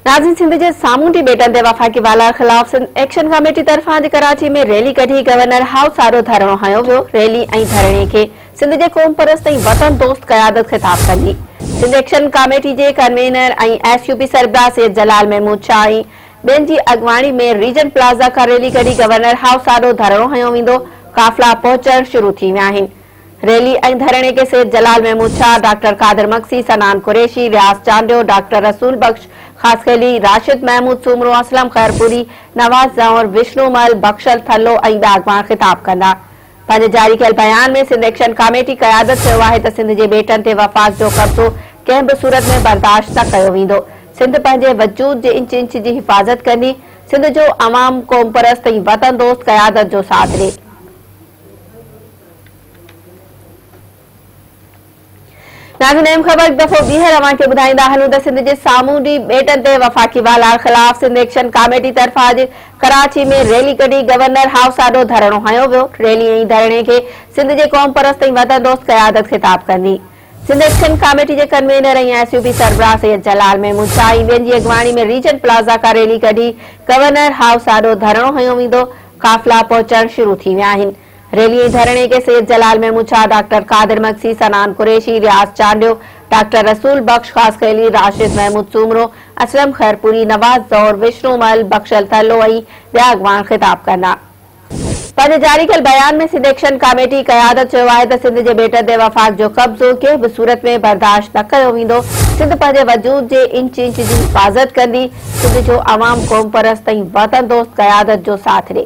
ناظرين سنڌ جي سامونڊي ٻيٽن تي وفاقي والار خلاف سنڌ ايڪشن ڪاميٽي طرفان اڄ ڪراچي ۾ ريلي ڪڍي گورنر هائوس آڏو ڌرڻو هنيو ويو ريلي ۽ ڌرڻي کي سنڌ جي قوم پرست ۽ وطن دوست قيادت خطاب ڪندي سنڌ ايڪشن ڪاميٽي جي ڪنوينر ۽ ايس يو پي سربراهه سيد جلال محمود شاهه ۽ ٻين جي اڳواڻي ۾ ريجنٽ پلازا کان ريلي ڪڍي گورنر هائوس آڏو ڌرڻو هنيو ويندو قافلا پهچڻ شروع ٿي ويا آهن ريلي ۽ ڌرڻي کي سيد جلال محمود شاهه، ڊاڪٽر قادر مگسي، صنعان قريشي، رياض چانڊيو، ڊاڪٽر رسول بخش خاصخيلي، راشد محمود سومرو، اسلم خيرپوري، نواز زئور، وشنو مل، بخشل ٿلهو ۽ ٻيا اڳواڻ خطاب ڪندا. پنهنجي جاري ڪيل بيان ۾ سنڌ ايڪشن ڪاميٽي قيادت چيو آهي ته سنڌ جي ٻيٽن تي وفاق جو قبضو ڪنهن به صورت ۾ برداشت نه ڪيو ويندو، سنڌ پنهنجي وجود جي انچ انچ جي حفاظت ڪندي، سنڌ جو عوام قومپرست ۽ وطن دوست قيادت جو ساٿ ڏي. ناظرين ايم خبر هڪ دفعو ٻيهر اوهان کي ٻڌائيندا هلون ته سنڌ جي سامونڊي ٻيٽن تي وفاقي والار خلاف سنڌ ايڪشن ڪاميٽي طرفان اڄ ڪراچي ۾ ريلي ڪڍي گورنر هائوس آڏو ڌرڻو هنيو ويو ريلي ۽ ڌرڻي کي سنڌ جي قومپرست ۽ وطن دوست قيادت خطاب ڪندي سنڌ ايڪشن ڪاميٽي جي ڪنوينر ۽ ايس يو بي سربراهه سيد جلال محمود شاهه ۽ ٻين جي اڳواڻي ۾ ريجنٽ پلازا کان ريلي ڪڍي گورنر هائوس آڏو ڌرڻو هنيو ويندو قافلا پهچڻ شروع ٿي ويا آهن. ريلي ۽ ڌرڻي کي سيد جلال ميمونشاهه، ڊاڪٽر قادر مگسي، صنعان قريشي، رياض چانڊيو، ڊاڪٽر رسول بخش خاصخيلي، راشد محمود سومرو، اسلم خيرپوري، نواز زئور، وشنو مل، بخشل ٿرلو ۽ ٻيا اڳواڻ خطاب ڪندا. پنهنجي جاري ڪيل بيان ۾ سنڌ ايڪشن ڪاميٽي قيادت چيو آهي ته سنڌ جي ٻيٽن تي وفاق جو قبضو ڪنهن به صورت ۾ برداشت نه ڪيو ويندو، سنڌ پنهنجي وجود جي انچ انچ جي حفاظت ڪندي، سنڌ جو عوام قومپرست ۽ وطن دوست قيادت جو ساٿ ڏي.